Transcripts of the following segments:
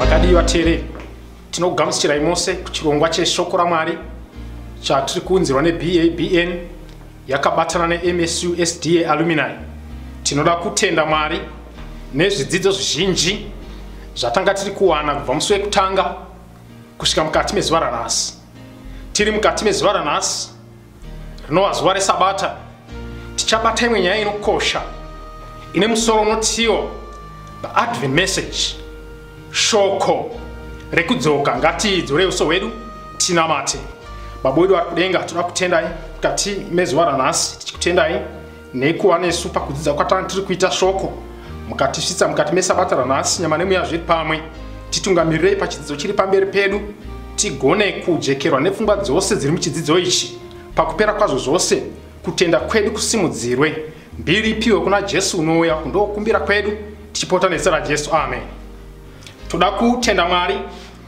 vakadii vateereri tinokugamusichirai mose kuchirongwa cheshoko ramwari chatiri kuunzirwa nebabn yakabatana nemsu sda alumini tinoda kutenda mwari nezvidzidzo zvizhinji zvatanga tiri kuwana kubva musi wekutanga kusvika mukati mezuva ranhasi tiri mukati mezuva ranhasi rinova zuva resabata tichabata imwe nyaya inokosha ine musoro unotiwo the advent message shoko rekudzoka ngatidzorei uso hwedu tinamate baba wedu vari kudenga toda kutendai mukati mezuva ranhasi tichikutendai Neikuva nesu pakudzidza kwatanga tiri kuita shoko mukatisvitsa mukati mesabata ranhasi nyama nemweya zviri pamwe titungamirirei pachidzidzo chiri pamberi pedu tigone kujekerwa nepfungwa dzose dziri muchidzidzo ichi pakupera kwazvo zvose kutenda kwedu kusimudzirwe mbiri ipiwe kuna jesu unouya kundokumbira kwedu tichipota nezita rajesu amen toda kutenda mwari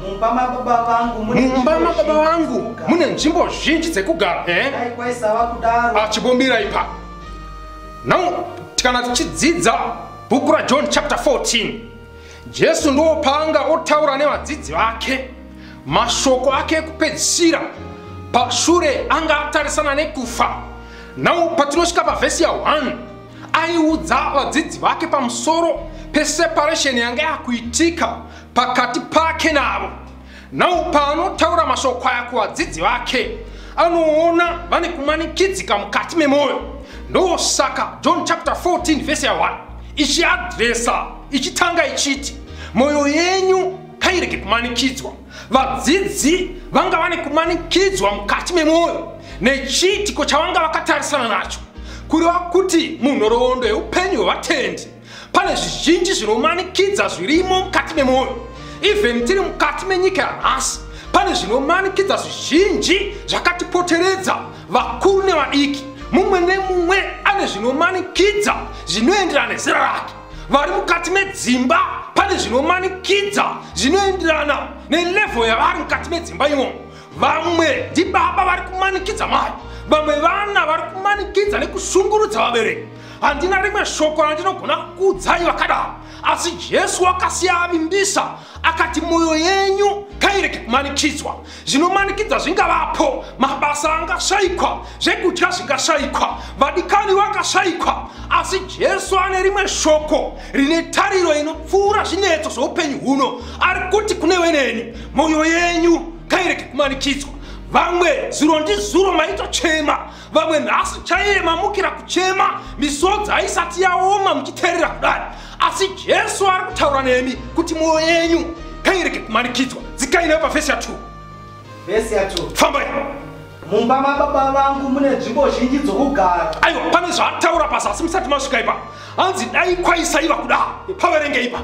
mumba mababa vangu mune nzvimbo zhinji dzekugara eh? ah, chibombira ipa now tikana tichidzidza bhuku rajohn chapter 14 jesu ndiwo paanga otaura nevadzidzi vake mashoko ake ekupedzisira pashure anga atarisana nekufa now patinosvika pavhesi ya 1 aiudza vadzidzi vake pamusoro peseparesheni yanga yakuitika pakati pake navo nau paanotaura mashoko aya kuvadzidzi vake anoona vane kumanikidzika mukati memwoyo ndosaka john chapter 14 vese ya 1 ichiadresa ichitanga ichiti mwoyo yenyu kairege kumanikidzwa vadzidzi vanga vane kumanikidzwa mukati memwoyo nechiitiko chavanga vakatarisana nacho kureva kuti munhoroondo yeupenyu hwevatendi pane zvizhinji zvinomanikidza zvirimo mukati memwoyo even tiri mukati menyika yanhasi pane zvinomanikidza zvizhinji zvakatipoteredza vakuru nevadiki mumwe nemumwe ane zvinomanikidza zvinoenderana nezera rake vari mukati medzimba pane zvinomanikidza zvinoenderana nelevhel yavari mukati medzimba imomo vamwe ndibaba vari kumanikidza mai vamwe vana vari kumanikidza nekushungurudza vabereki handina rimwe shoko randinogona kukuudzai vakadaro asi jesu wakasiya avimbisa akati mwoyo yenyu ngairege kumanikidzwa zvinomanikidza zvingavapo mabasa angashayikwa zvekudya zvingashayikwa vadikani vakashayikwa asi jesu ane rimwe shoko rine tariro inopfuura zvinetso zveupenyu huno ari kuti kune weneni mwoyo yenyu ngairege kumanikidzwa vamwe zuro ndizuro maitochema vamwe nhasi chaiye mamukira kuchema misodzi haisati yaoma muchiteerera kudari asi jesu ari kutaura nemi kuti mwoyo yenyu kairege kumanikidzwa dzikai neyo pafesi ya 2 vesi ya 2 fambai mumba mababa vangu mune nzvimbo zhinji dzokugara aiwa pane zvaataura pazasi musati masvika ipa hanzi dai kwaisaiva kuda paverenge ipa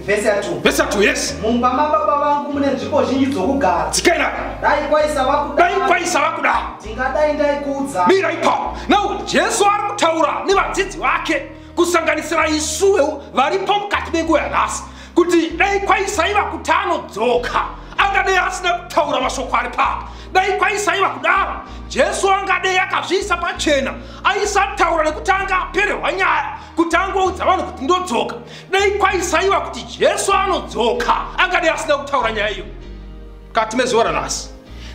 Vese atu. Vese atu, yes. Mumba mababa vangu mune nzvimbo zhinji dzokugara. Dzikaira. Dai kwaisa vakuda. Dai kwaisa vakuda. Tingadai ndaikuudza. Mira ipapo. Now Jesu ari kutaura nevadzidzi vake kusanganisira isuwo varipo mukati menguva yanhasi kuti dai kwaisaiva kuti anodzoka angadei asina kutaura mashoko ari papa dai kwaisaiva kudaro jesu angadei akazviisa pachena aisataura nekuti anga apererwa nyaya kuti angoudza vanhu kuti ndodzoka dai kwaisaiva kuti jesu anodzoka angadai asina kutaura nyaya iyo kati mezuva ranhasi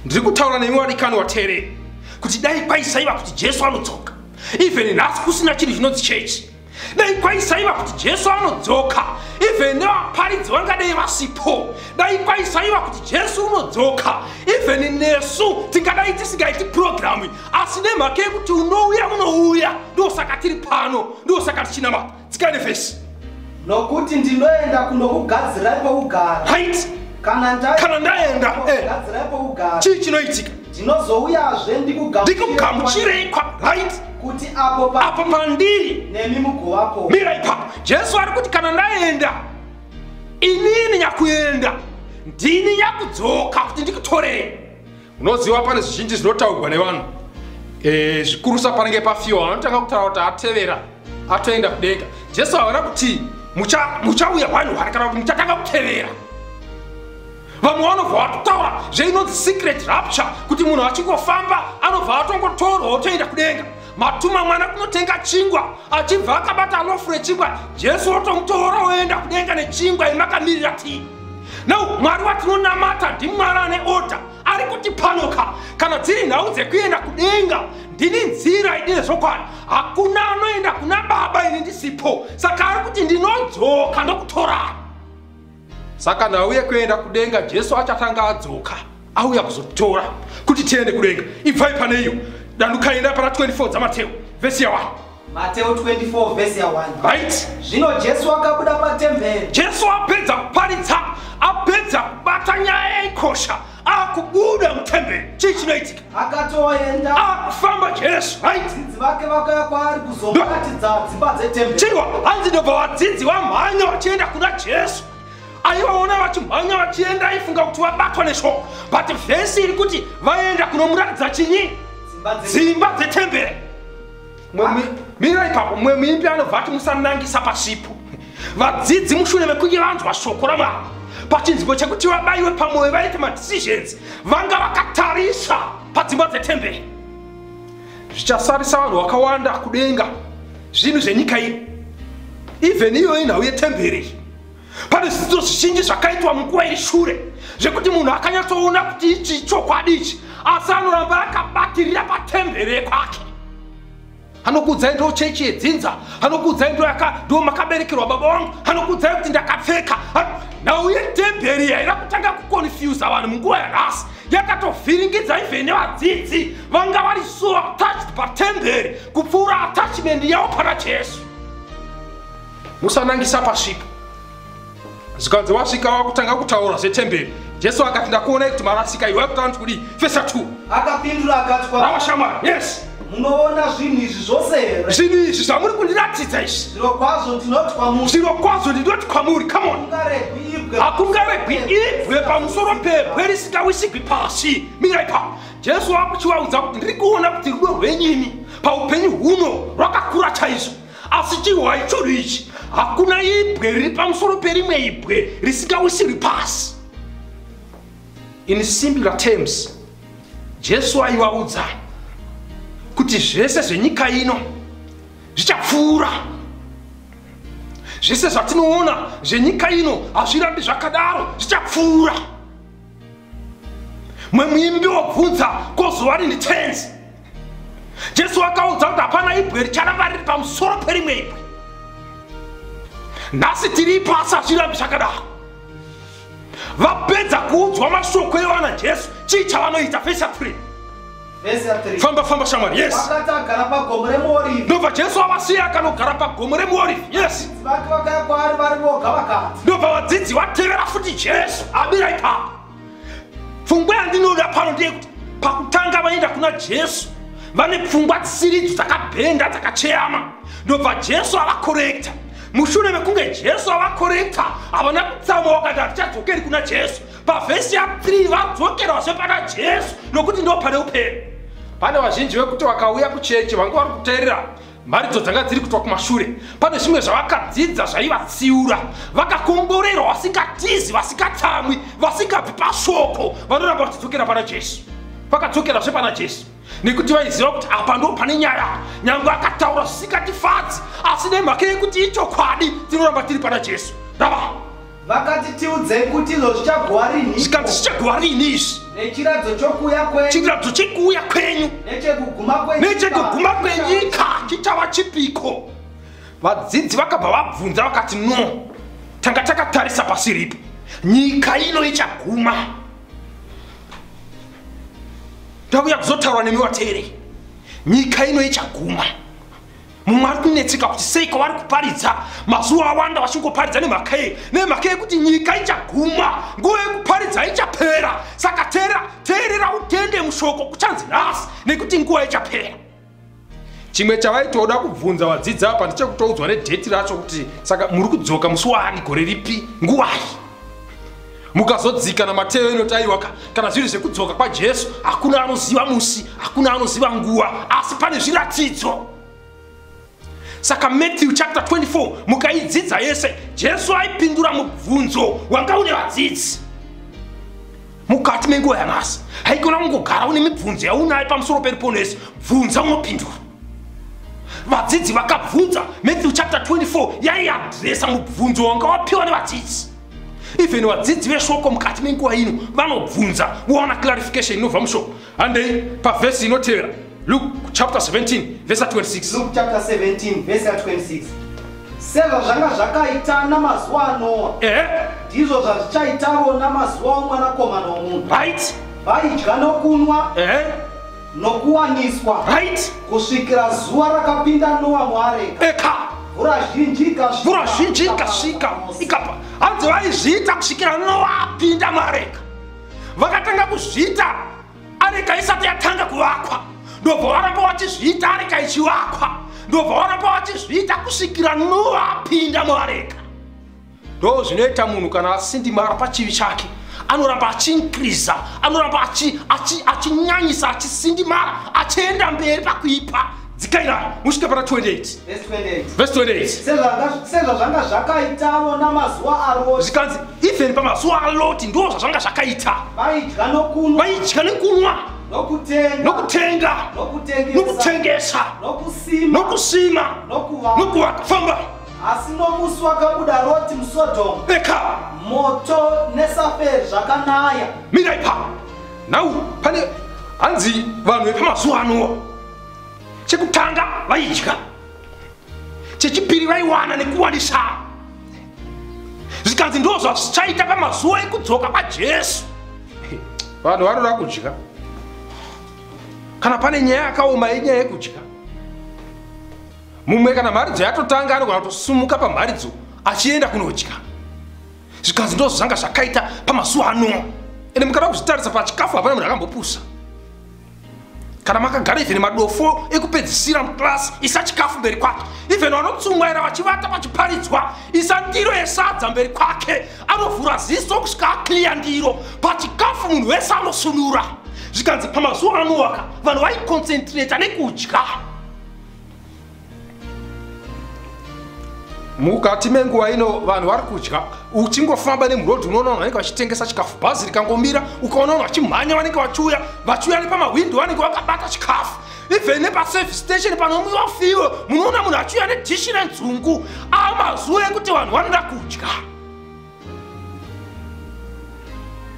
ndiri kutaura nemi wadikani wateereri kuti dai kwaisaiva kuti jesu anodzoka even nhasi kusina chinhu chinonzi chechi dai kwaisaiva kuti jesu anodzoka even nevaparidzi vangadei vasipo dai kwaisaiva kuti jesu unodzoka even nesu tingadai tisingaiti purogiramu asi nemhaka yekuti unouya unouya ndosaka tiri pano ndosaka tichinama tsikane vhesi nokuti ndinoenda kunokugadzirai pokugara right kana ndaenda eh. chii chinoitika ndinozouyazve ndikugamuchirei right kuti apo pandiri nemi mugovapo mira ipapo jesu ari kuti kana ndaenda inini nyakuenda ndini nyakudzoka kuti ndikutorei unoziva pane zvizhinji zvinotaurwa nevanhu e, zvikurusa panenge pafiwa vanotanga kutaura kuti atevera atoenda kudenga jesu havana kuti muchauya vanhu vari kana kuti muchatanga kutevera vamwe vanobva vatotaura zveinonzi secret rapture kuti munhu achingofamba anobva atongotorwa otoenda kudenga matuma mwana kunotenga chingwa achibva akabata lofu rechingwa jesu otomutora oenda kudenga nechingwa imakamirira tii now mwari watinonamata ndimwari ane order ari kuti panoka kana dziri nhau dzekuenda kudenga ndini nzira idine zvokwadi hakuna anoenda kuna baba ini ndisipo saka ari kuti ndinodzoka ndokutorana saka nhau yekuenda kudenga jesu achatanga adzoka auya kuzotora kuti tiende kudenga ibvai pane iyo dandukaenda pana 24 dzamateo vhesi ya 1 mateo 24 vhesi ya 1 right zvino jesu akabuda patemberi jesu apedza kuparidza apedza kubata nyaya yaikosha akubuda mutemberi chii chinoitika akatoenda akufamba jesu vadzidzi vake vakaya kwaari kuzomuratidza dzimba dzetemberi chiriwa hanzi ndobva vadzidzi vamhanya vachienda kuna jesu aivaona vachimhanya vachienda aifunga kuti vabatwa neshoko but vhesi iri kuti vaenda kunomuratidza chinyi dzimba dzetembere mira ipapo mumwe muimbi anobva ati musanangisa pasipo vadzidzi mushure mekunge vanzwa shoko ramwari pachinziko chekuti vabaiwe pamwoyo vaite madecisions vanga vakatarisa padzimba dzetembere zvichasarisa vanhu vakawanda kudenga zvinhu zvenyika iyi even iyoyi nhau yetembere iyi pane zvidzidzo zvizhinji zvakaitwa munguva iri shure zvekuti munhu akanyatsoona kuti ichi ichokwadi ichi asi anoramba akabatirira patembere yekwake anokuudzai ndo chechi yedzinza anokuudzai ndo ndo makaberekerwa baba wangu anokuudzai kuti ndakapfeka nhau yetemberi yaida kutanga kuconfusa vanhu munguva yanhasi yakatovhiringidza ivhene vadzidzi vanga vari so attached patemberi kupfuura attachment yavo pana jesu musanangisa pasvipo zvikanzi wasvika wakutanga kutaura zvetemberi jesu akati ndakuonai kuti marasika iwe akutaura kuti kudii fesa t akapindura akati kwaava shamwari yes munoona zvinhu izvi zvose here zvinhu izvi zvamuri kundiratidza izvi zviro kwazvo ndinoti kwamuri zviro kwazvo ndinoti kwamuri come on hakungaregwi ibwe pamusoro pebwe risingawisigwi pasi mirai pa jesu akuchivaudza kuti ndiri kuona kuti rudo rwenyimi paupenyu huno rwakakura chaizvo asi chihwai chodo ichi hakuna ibwe riri pamusoro perimwe ibwe risingawisirwi pasi in simpler terms jesu aivaudza kuti zvese zvenyika ino zvichapfuura zvese zvatinoona zvenyika ino hazvirambi zvakadaro zvichapfuura mumwe muimbi wobvunza kozova rini tenzi jesu akaudza kuti hapana ibwe richaramba riri pamusoro perimwe ibwe nhasi tiri ipo asi hazvirambi zvakadaro vapedza kuudzwa mashoko evana jesu chii chavanoita vhesi ya 3 famba famba shamwari yes ndobva jesu avasiya akanogara pagomo remuorifi yes ndobva vadzidzi vatevera futi jesu abira ipapo pfungwa yandinoda pano ndeyekuti pakutanga vaenda kuna jesu vane pfungwa dzisiridzo dzakabhenda dzakacheyama ndobva jesu avakorekta mushure mekunge jesu avakorekta havana kutsauma wakati hatichadzokeri kuna jesu pavhesi ya3 vadzokerwazve pana jesu nokuti ndo pane upere pane vazhinji vekuti vakauya kuchechi vange vari kuteerera mharidzo dzanga dziri kutwa kumashure pane zvimwe zvavakadzidza zvaivatsiura vakakomborerwa vasingatizi vasingatsamwi vasingabvi pashoko vanoramba vachidzokera pana jesu vakadzokerazve pana jesu nekuti vaiziva kuti apa ndo pane nyaya nyange akataura zvisingatifadzi asi nemhaka yekuti ichokwadi tinoramba tiri pana jesu rava vakati tiudzei kuti izvo zvichaguwa rinhi zvikanzi zvichaguwa rinhi izvi nechiradzo chokuuya kwenyu chiradzo chekuuya kwenyu nechekuguma kwenyika chichava chipiko vadzidzi vakabva vabvunza vakati no tanga takatarisa pasi ripo nyika ino ichaguma ndakuya kuzotaura nemi vateerei nyika ino ichaguma mumwe ari kunetseka kuti sei kwavari kuparidza mazuva awanda vachingoparidza nemhaka yei nemhaka yekuti nyika ichaguma nguva yekuparidza ichapera saka teera teerera utende mushoko kuchanzi nhasi nekuti nguva ichapera chimwe chavaitoda kubvunza vadzidzi apa ndechekutoudzwa nedheti racho kuti saka muri kudzoka musi waani gore ripi nguvai mukazodzika namateyo inotayiwa ka kana zviri zvekudzoka kwajesu hakuna anoziva musi hakuna anoziva nguva asi pane zviratidzo saka matthew chapter 24 mukaidzidza yese jesu aipindura mubvunzo wanga une vadzidzi mukati menguva yanhasi haikona kungogara une mibvunzo yaunayo pamusoro peripono yese bvunza unopindura vadzidzi vakabvunza matthew chapter 24 yaiadresa mubvunzo wanga wapiwa nevadzidzi even vadzidzi veshoko mukati menguva ino vanobvunza vowana clarification inobva mushoko handei pavhesi inotevera luk chapter 17 vhesi 26 chapter 17 vhesi 26 sezvazvanga zvakaita namazuva anoa ehe ndizvo zvazvichaitavo namazuva omwanakomana omunhu right vaidya nokunwa ehe nokuwaniswa right kusvikira zuva rakapinda noa muareka eka mvura zhinji ikasvika mvura zhinji ikasvika ikapa hanzi vaizviita kusvikira noa apinda muareka vakatanga kuzviita areka isati yatanga kuvakwa ndobva varamba vachizviita areka ichivakwa ndobva varamba vachizviita kusvikira noa apinda muareka ndo zvinoita munhu kana asindimara pachivi chake anoramba achiinkriza anoramba achinyanyisa achisindimara achienda mberi pakuipa dzikaira musvike pana 28sezvazvanga zvakaitavo namazuva aloti zvikanzi even pamazuva aloti ndo zvazvanga zvakaita vaidya nokunwa nokutenga nokutengesa nokusima nokuvakafamba asi nomusi wakabuda roti musodomu eka moto nesaferi zvakanaya mira ipa nau pane hanzi vanhu vepamazuva anowa chekutanga vaidya chechipiri vaiwana nekuwanisa zvikanzi ndo zvazvichaita pamazuva ekudzoka kwajesu vanhu vanoda kudya kana pane nyaya yakaoma yenyaya yekudya mumwe kana mharidzo yatotanga anogona kutosumuka pamharidzo achienda kunodya zvikanzi ndozvo zvanga zvakaita pamazuva ano ende mukada kuzvitarisa pachikafu hapana munhu akambopusa kana makagara even madofo ekupedzisira muclass isa chikafu mberi kwake even vanotsumwaira vachivata vachiparidzwa isa ndiro yesadza mberi kwake anovhura ziso kusvika akliya ndiro pachikafu munhu wese anosunura zvikanzi pamazuva anowaka vanhu vaiconcentrata nekudya mukati menguva ino vanhu vari kudya uchingofamba nemurodhi unoona vanhu vanenge vachitengesa chikafu bhazi rikangomira ukaona vanhu vachimhanya vanenge vachiuya vachiuya nepamahwindo vanenge vakabata chikafu even nepaservice station panomwiwa fiwe munoona munhu achiuya nedhishi renzungu ava mazuva ekuti vanhu vanoda kudya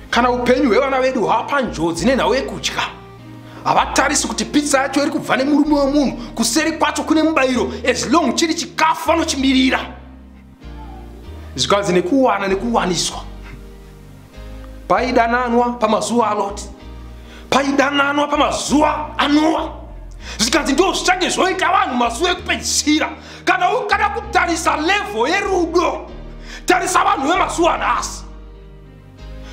kana upenyu hwevana vedu hwava panjodzi nenhau yekudya havatarisi kuti pitsa yacho iri kubva nemurume wemunhu kuseri kwacho kune mubayiro as long chiri chikafu vanochimirira zvikanzi nekuwana nekuwaniswa paidananwa pamazuva aloti paidananwa pamazuva anowa zvikanzi ndo zvichange zvoita vanhu mazuva ekupedzisira kana ukada kutarisa level yerudo tarisa vanhu vemazuva anasi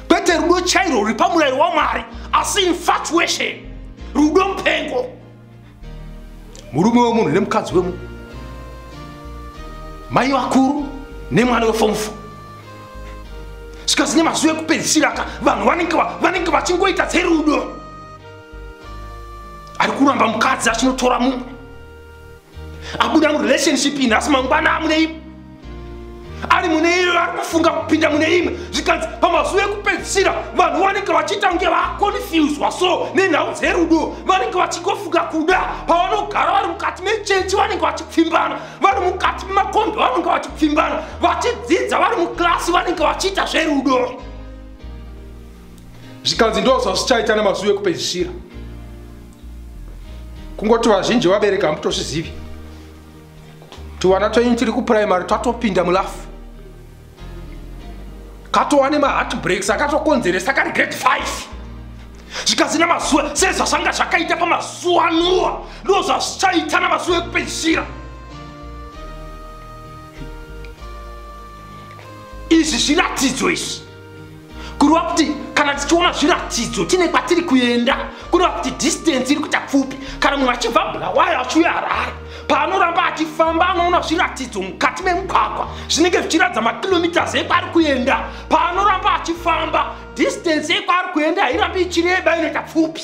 kwete rudo chairo ruri pamurairo wamwari asi infatuation rudo mupengo murume wemunhu nemukadzi wemunhu mai vakuru nemwana wefomufo sikazine mazuva ekupedzisiraka vanhu vanenge vachingoita dzerudo ari kuramba mukadzi achinotora mumwe abuda murelationship iyi nhasi mangwana amune imwe ari mune iyo ari kufunga kupinda mune imwe zvikanzi pamazuva ekupedzisira vanhu vanenge vachiita kunge vakonfuswa so nenhau dzerudo vanenge vachingofunga kuda pavanogara vari mukati mechechi vanenge vachipfimbana vari mukati memakombi vanenge vachipfimbana vachidzidza vari muklasi vanenge vachiita zverudo zvikanzi ndozvazvichaita nemazuva ekupedzisira kungoti vazhinji vabereki hamutozvizivi tuvana twenyu tiri kupuraimary twatopinda mulafu katova nemaheartbreaks akatokonzeresa kari grade 5 zvikazina mazuva sezvazvanga zvakaita pamazuva anuwa ndo zvazvichaita namazuva ekupedzisira izvi zviratidzo izvi kureva kuti kana tichiona zviratidzo tine kwatiri kuenda kureva kuti distance iri kuita pfupi kana munhu achibva bulawayo achiuya harare paanoramba achifamba anoona zviratidzo mukati memugwagwa zvinenge zvichiratidza makilomitas ekwaari kuenda paanoramba achifamba distance yekwaari kuenda hairambi ichireba inoita pfupi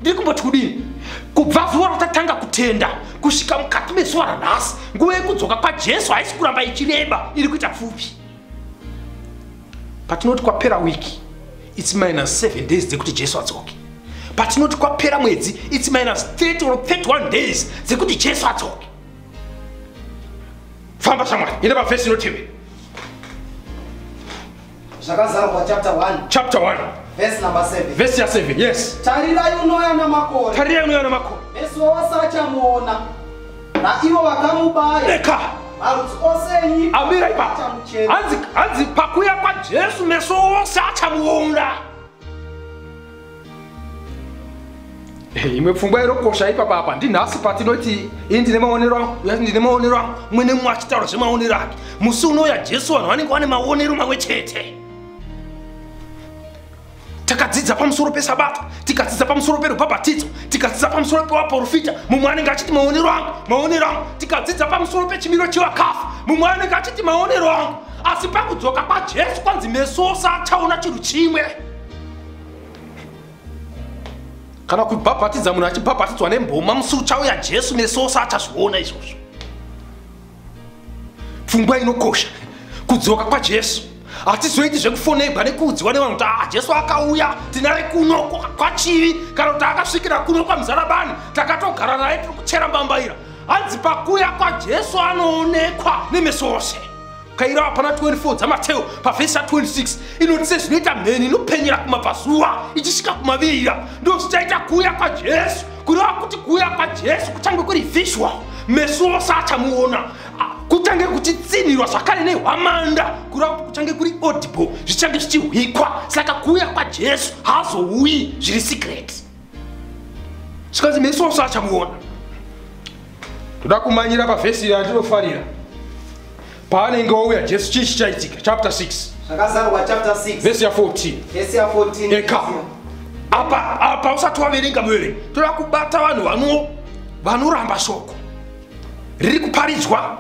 ndiri kumboti kudini kubva zuva ratatanga kutenda kusvika mukati mezuva ranhasi nguva yekudzoka kwajesu haisi kuramba ichireba iri kuita pfupi patinoti kwapera wiki its minus 7 days dzekuti jesu adzoke patinoti kwapera mwedzi its minus 30 or 31 days dzekuti jesu adzoke famba shamwari ine pavhesi inotevera zvakazarwa chapter 1 chapter 1 vhesi number 7 vhesi ya 7 yes tarirai unoya namakore tarirai unoya namakore vhesi wawasachamuona naivo vakamubaya reka marudzi ose enyika amira ipa achamuchema hanzi hanzi pakuya kwajesu meso ose achamuona Eh, imwe pfungwa irokosha ipapa apa ndinhasi patinoti ini ndine maonero angu uya ndine maonero angu mwene mumwe achitaura zvemaonero ake musi unouya jesu vanhu vanenge vane maonero mamwe chete takadzidza pamusoro pesabata tikadzidza pamusoro perubhabhatidzo tikadzidza pamusoro pevaprofita mumwe anenge achiti maonero angu maonero angu tikadzidza pamusoro pechimiro chevakafa mumwe anenge achiti maonero angu asi pakudzoka kwajesu kwanzi meso ose achaona chinhu chimwe kana kubhabhatidza munhu achibhabhatidzwa nemboma musi uchauya jesu meso ose achazviona izvozvo pfungwa inokosha kudzoka kwajesu hatizoiti zvekufonebwa nekuudziwa nevanhu kuti ah jesu akauya tinare kuno kwachivi kana kuti akasvikira kuno kwamuzarabani takatogara naye tiri kuchera mbambaira hanzi pakuya kwajesu anoonekwa nemeso ose kaira hapana 24 dzamateo pavhesi ya 26 inoti sezvinoita mheni inopenyera kumabvazuva ichisvika kumavirira ndozvichaita kuuya kwajesu kureva kuti kuuya kwajesu kuchange kuri visual meso ose achamuona kuchange kuchitsinhirwa zvakare nehwamanda kureva kuti kuchange kuri audible zvichange zvichihwikwa saka kuuya kwajesu haazouyi zviri secret zvikanzi meso ose achamuona toda kumanyira pavhesi iri atinofarira pavanenge vauya jesu chii chichaitika chapter 6 zvakazarwa chapter 6 vesi ya 14 vesi ya 14 eka apa apa usati waverenga muverengi toda kubata vanhu vano vanoramba shoko riri kuparidzwa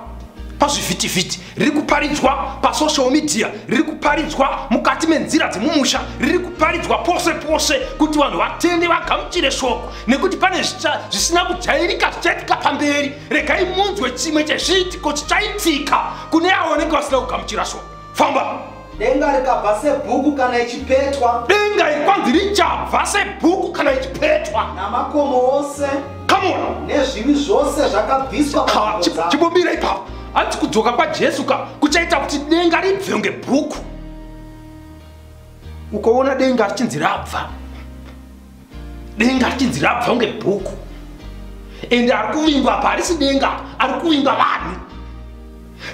pazvivhitivhiti riri kuparidzwa pasocial media riri kuparidzwa mukati menzira dzemumusha riri kuparidzwa pose pose kuti vanhu vatende vagamuchire shoko nekuti pane zvisina kujairika zvichaitika pamberi regai munzwe chimwe chezviitiko chichaitika kune avo vanenge vasina kugamuchira shoko famba denga rikabva sebhuku kana ichipetwa denga iri kwanzi richabva sebhuku kana ichipetwa namakomo ose kamona nezvivi zvose zvakabviswa chimbomira ipapo hanzi kudzoka kwajesu ka kuchaita kuti denga ribve kunge bhuku ukoona denga richinzi rabva denga richinzi rabva kunge bhuku ende ari kuvingwa apa harisi denga ari kuvingwa vanhu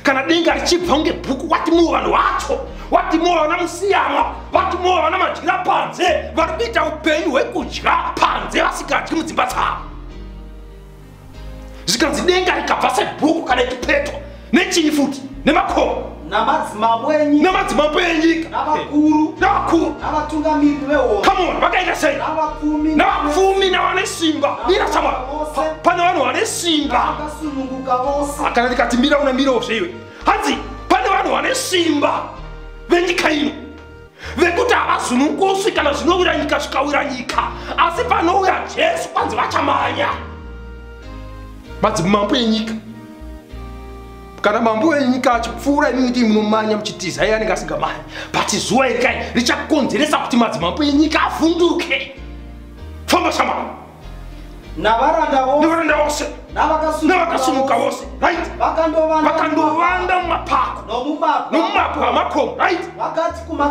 kana denga richibva kunge bhuku watimowo vanhu vacho watimowo vana musiyamwa watimowo vana madyira panze vari kuita upenyu hwekudya panze vasikadyi mudzimba dzavo zvikanzi denga rikabva sebhuku kana ikipetwa nechii futi nemakomo namadzimambo enyika namadzimambo enyika navakuru navakuru navatungamiri vehondo come on vakaita sei navapfumi navapfumi navane simba mira sama pane vanhu vane simba vakasununguka vose kana ndikati mira unamirawo zveiwe hanzi pane vanhu vane simba venyika ino vekuti havazunungusi kana zvinowira nyika zvikawira nyika asi panouya jesu kwanzi vachamanya madzimambo enyika kana mambo enyika achipfuura imi kuti munomanya muchitiza iye anenge asingamanya but zuva irikai richakonzeresa kuti madzimambo enyika avhunduke famba shamba navaranda vose navaranda vose navakasumuka vose right vakandovanda mumapako nomumabwe amakomo right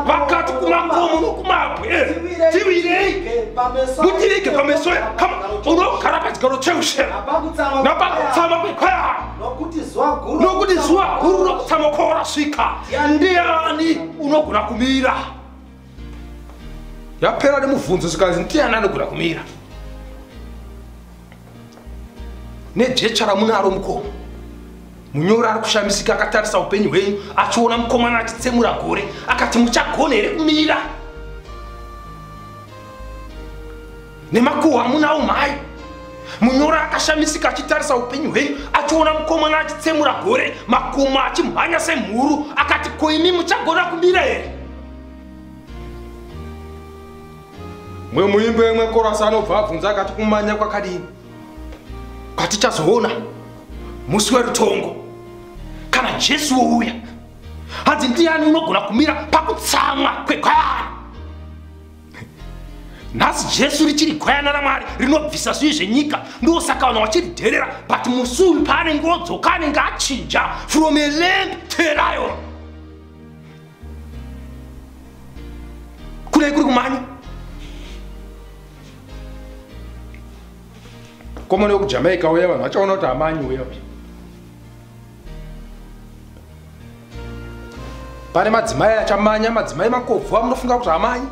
vakati kumakomo nokumabwe eh, tivirei mutirege pameso unogara pachigaro cheushera napakutsama kwekwaya nokuti zuva guru rokutsama kwawarasvika ndiani unogona kumira yapera nemubvunzo zvikanzi ndiani anogona kumira nejecha ramunaro mukoma munyori ari kushamisika akatarisa upenyu hwenyu achiona mukomana achitsemura gore akati muchagona here kumira nemakuhwa amunawo mhai munyori akashamisika achitarisa upenyu hwenyu achiona mukomana achitsemura gore makuma achimhanya semhuru akati koimi muchagona kumira here mwe muimbi wemwe korasi anobva abvunza akati kumanya kwakadini kwatichazoona musi werutongo kana jesu wouya hanzi ndiani unogona kumira pakutsamwa kwegwayana nhasi jesu richiri gwayana ramwari rinobvisa zvivi zvenyika ndosaka vanhu vachiridherera but musi uyu paanenge odzoka anenge achinja from a lamp to a lion kudai kuri kumhanya komana yokujamaica uya vanhu vachaona kuti amanyi uya uya pane madzimai achamanya madzimai makobvu amunofunga kuti amanyi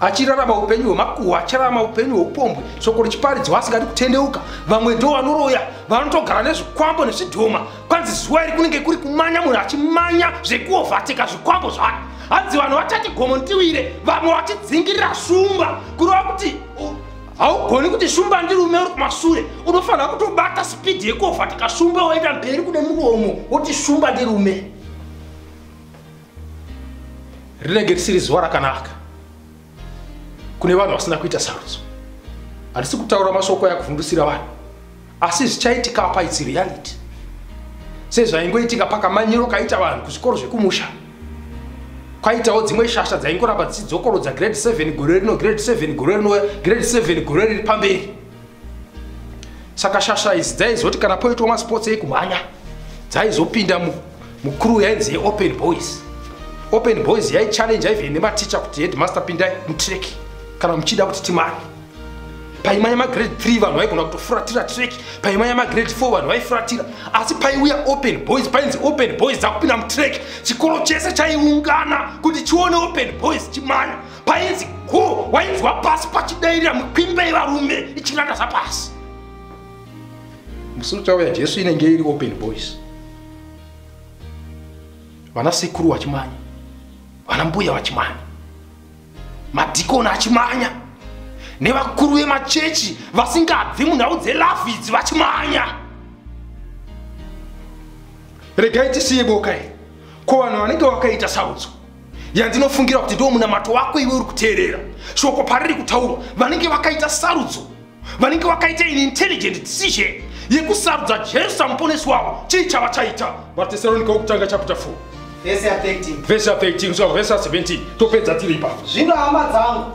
achirarama upenyu hwemakuhwa achirarama upenyu hweupombwe shoko richiparidzwa asingadi kutendeuka vamwe ndo vanoroya vanotogara nezvikwambo nezvidhoma kwanzi zuva iri kunenge kuri kumanya munhu achimanya zvekuovateka zvikwambo zvake hanzi vanhu vachati gomo ndiwire vamwe vachidzingirira shumba kureva kuti haugoni kuti shumba ndirume uri kumasure unofanira kutobata spidi yekuovateka shumba woenda mberi kune muromo woti shumba ndirume rinenge risiri zuva rakanaka kune vanhu vasina kuita sarudzo handisi kutaura mashoko aya kuvhundusira vanhu asi zvichaitika apa its reality sezvaingoitika pakamanyiro kaita vanhu kuzvikoro zvekumusha kwaitawo dzimwe shasha dzaingoramba dzichidzokorodza grade 7 gore rino grade 7 gore rino grade 7 gore riri pamberi saka shasha idzi dzaizoti kana poitwa masports ekumhanya dzaizopinda mucrew yainzi yeopen boys open boys yaichallenja even nematicha kuti headmaster pindai mutrek kana muchida kuti timani paimanya magrade 3 vanhu vaigona kutofuratira trek paimanya magrade 4 vanhu vaifuratira asi paiuya open boys painzi open boys dzakupinda mutrek chikoro chese chaiungana kuti chione open boys chimanya painzi go wainzwa pasi pachidairira mukwimbe yevarume ichingata zvapasi musi uchauya jesu inenge iri open boys vana sekuru vachimanya vana mbuya vachimanya madhikoni achimanya nevakuru vemachechi vasingabvi munhau dzelafu idzi vachimanya regai tisiye boka iri ko vanhu vanenge vakaita saudzo yandinofungira kuti ndiwo munamato wako iwe uri kuteerera shoko pariri kutaurwa vanenge vakaita sarudzo vanenge vakaita in intelligent decision yekusarudza jesu samuponesi wavo chii chava chaita vatesaronika wokutanga chapter 4 vhesi ya 13 kusvika kuvhesi ya 17 topedza tiri ipapo zvino hama dzangu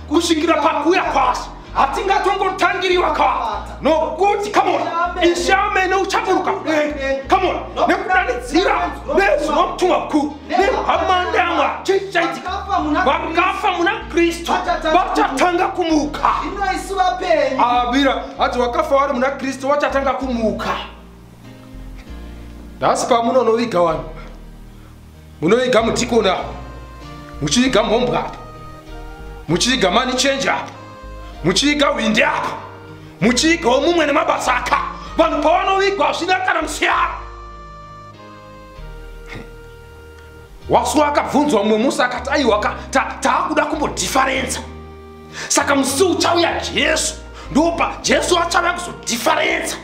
kusvikira pakuuya kwaso hatingatongotangiriwa ka nokuti kamona ishe amene uchaburuka kudenga kamona nekudanidzira nezwi nomutumwa mukuru nehwamande amwa chichaitika vakafa muna kristu vachatanga kumuka abira ati vakafa vari muna kristu vachatanga kumuka nhasi pamunonoviga vanhu munoiga mudhikoni apa muchiiga mhombwa apa muchiiga mani chenji apa muchiiga hwindi apa muchiigawo mumwe nemabasa aka vanhu pavanowigwa hazvina kana musiyana wasuwa akabvunzwa mumwe musi akati aiwa ka taakuda ta kumbodhifarenza saka musi uchauya jesu ndopa jesu achauya kuzodhifarenza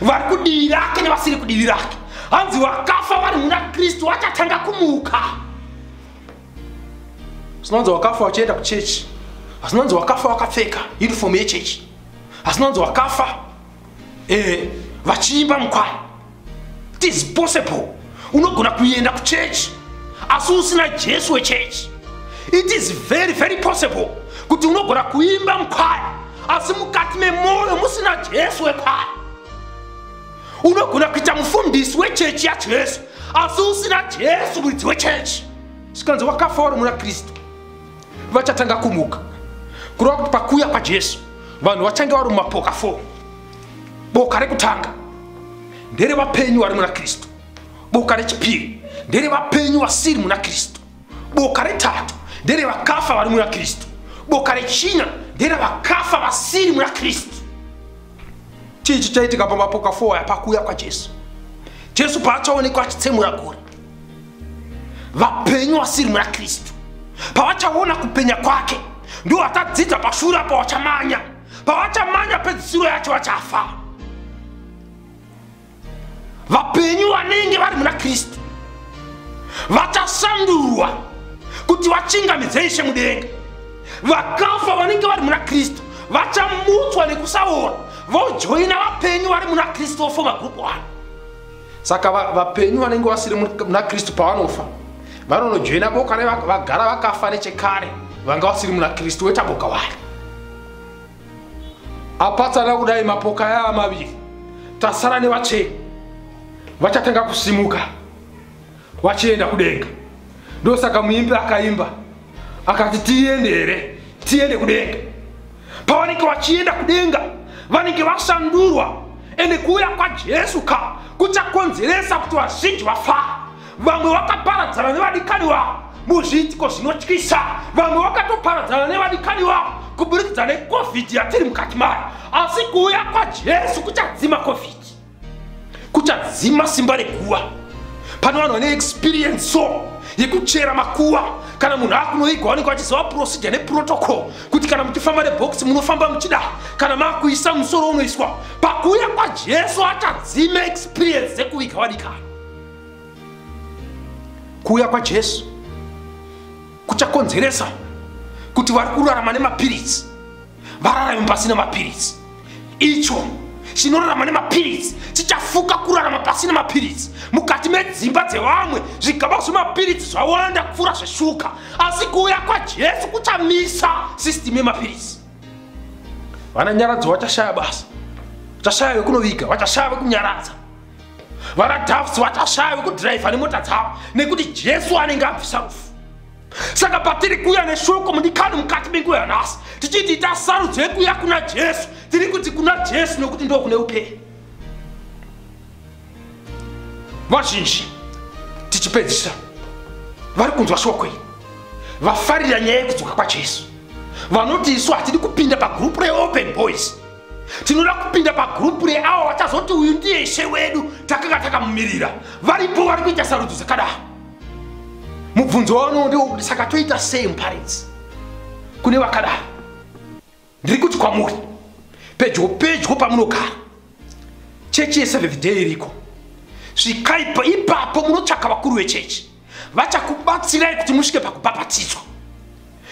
vari kudivi rake nevasiri kudivi rake hanzi vakafa vari muna kristu vachatanga kumuka sinonzi wakafa wachienda kuchechi asinonzi wakafa wakapfeka uniform yechechi asinonzi wakafa eh, vachiimba mukwai it is possible unogona kuenda kuchechi asi usina jesu wechechi it is very very possible kuti unogona kuimba mukwaya asi mukati memwoyo musina jesu wekwaya unogona kuita mufundisi wechechi yajesu asi usina jesu muridzi wechechi zvikanzi wakafa wari muna kristu vachatanga kumuka kureva kuti pakuuya kwajesu vanhu vachange vari mumapoka 4 boka rekutanga ndere vapenyu vari muna kristu boka rechipiri ndere vapenyu vasiri muna kristu boka retatu ndere vakafa vari muna kristu boka rechina ndere vakafa vasiri muna kristu chii chichaitika pamapoka 4 aya pakuuya kwajesu jesu paachaonekwa achitsemura gore vapenyu vasiri muna kristu pavachaona kupenya kwake ndiwo vatadzidza pashure apo vachamanya pavachamanya pedzisiro yacho vachafa vapenyu vanenge vari muna kristu vachasandurwa kuti vachingamidze ishe mudenga vakafa vanenge vari muna kristu vachamutswa nekusaona vojoina vapenyu vari muna kristu vofoma group one saka vapenyu vanenge vasiri muna kristu pavanofa vanonojoina boka revagara vakafa nechekare vanga vasiri muna kristu woita boka wari apatsana kudai mapoka yava maviri tasara nevatsveni vachatanga kusimuka vachienda kudenga ndosaka muimbi akaimba akati tiende here tiende kudenga pavanenge vachienda kudenga vanenge vashandurwa ende kuuya kwajesu ka kuchakonzeresa kuti vazhinji vafara vamwe vakaparadzana nevadikani vavo muzviitiko zvinotyisa vamwe vakatoparadzana nevadikani vavo kuburikidza necovid yatiri mukati mayo asi kuuya kwajesu kuchadzima covid kuchadzima simba rekuva pane vanhu vane experience so yekuchera makuva kana munhu akunoigwa vanenge vachiziva procedure neprotocol kuti kana muchifamba nebox munofamba muchida kana makuisa musoro unoiswa pakuuya kwajesu achadzima experience dzekuviga vadikana kuuya kwajesu kuchakonzeresa kuti vari kurarama nemapiritsi vararami pasina mapiritsi icho chinorarama nemapiritsi chichafuka kurarama pasina mapiritsi mukati medzimba dzevamwe zvigaba zvemapiritsi zvawanda kupfuura zveshuka asi kuuya kwajesu kuchamisa sistimu yemapiritsi vana nyaradzo vachashaya basa vachashaya vekunoviga vachashaya vekunyaradza vana dafs vachashaya vekudhiraivha nemota dzavo nekuti jesu anenge abvisa rufu saka patiri kuuya neshoko mudikani mukati menguva yanhasi tichiti ita sarudzo yekuuya kuna jesu tiri kuti kuna jesu nokuti ndo kune upenyu vazhinji tichipedzisa vari kunzwa shoko iri vafarira nyaya yekudzoka kwajesu vanoti isu hatidi kupinda pagrupu reopen boys tinoda kupinda pagrupu reavo vachazoti uyu ndiye ishe wedu takanga takamumirira varipo vari kuita sarudzo dzakadaro mubvunzo wauno ndiwo kuti saka toita sei muparidzi kune vakadaro ndiri kuti kwamuri pedyo pedyo pamunogara chechi yeseventh day iriko svikai ipapo munotsvaka vakuru vechechi vachakubatsirai kuti musvike pakubhabhatidzwa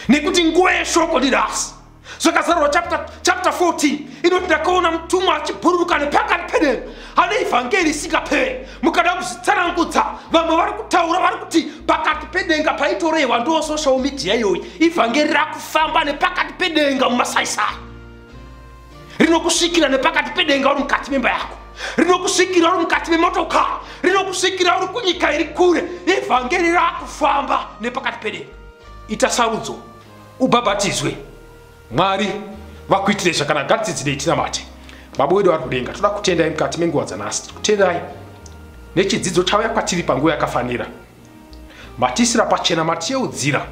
nekuti nguva yeshoko ndirasi zvakazarwa chapter, chapter 14 inoti ndakaona mutumwa achibhururuka nepakati pedenga ane ivhangeri isingapere mukada kuzvitsanangudza vamwe vari kutaura vari kuti pakati pedenga paitorehwa ndo social media iyoyi ivhangeri rakufamba nepakati pedenga mumasaisai rinokusvikira nepakati pedenga uri mukati memba yako rinokusvikira uri mukati memotokari rinokusvikira uri kunyika iri kure ivhangeri rakufamba nepakati pedenga ita sarudzo ubhabhatizwe mwari vakuitire zvakanaka ngatidzidzirei tinamate baba wedu vari kudenga toda kutendai mukati menguva dzanhasi tiri kutendai nechidzidzo chauya kwatiri panguva yakafanira matiisira pachena matiyeudzira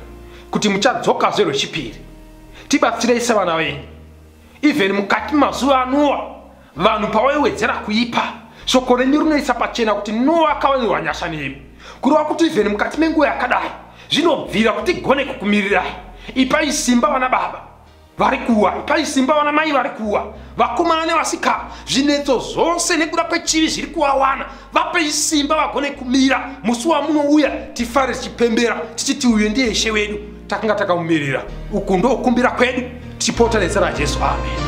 kuti muchadzokazve rwechipiri tibatsirei sevana venyu even mukati mazuva anuwa Vanhu pawaiwedzera kuipa, shoko renyu rinoisa pachena kuti Noa akawanirwa nyasha nemi. Kureva kuti ivheni mukati menguva yakadai, zvinobvira kuti gone kukumirirai. Ipai simba vana baba vari kuwa, ipai simba vana mai vari kuwa, vakomana nevasikana, zvinetso zvose nekuda kwechivi zviri kuwawana. vapei simba vagone kumira musi wamunouya tifare tichipembera tichiti uyo ndiye ishe wedu takanga takamumirira uku ndokumbira kwedu tichipota nezita rajesu amen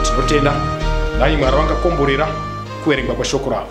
tinotenda nai mwari vangakomborera kuverengwa kweshoko ravo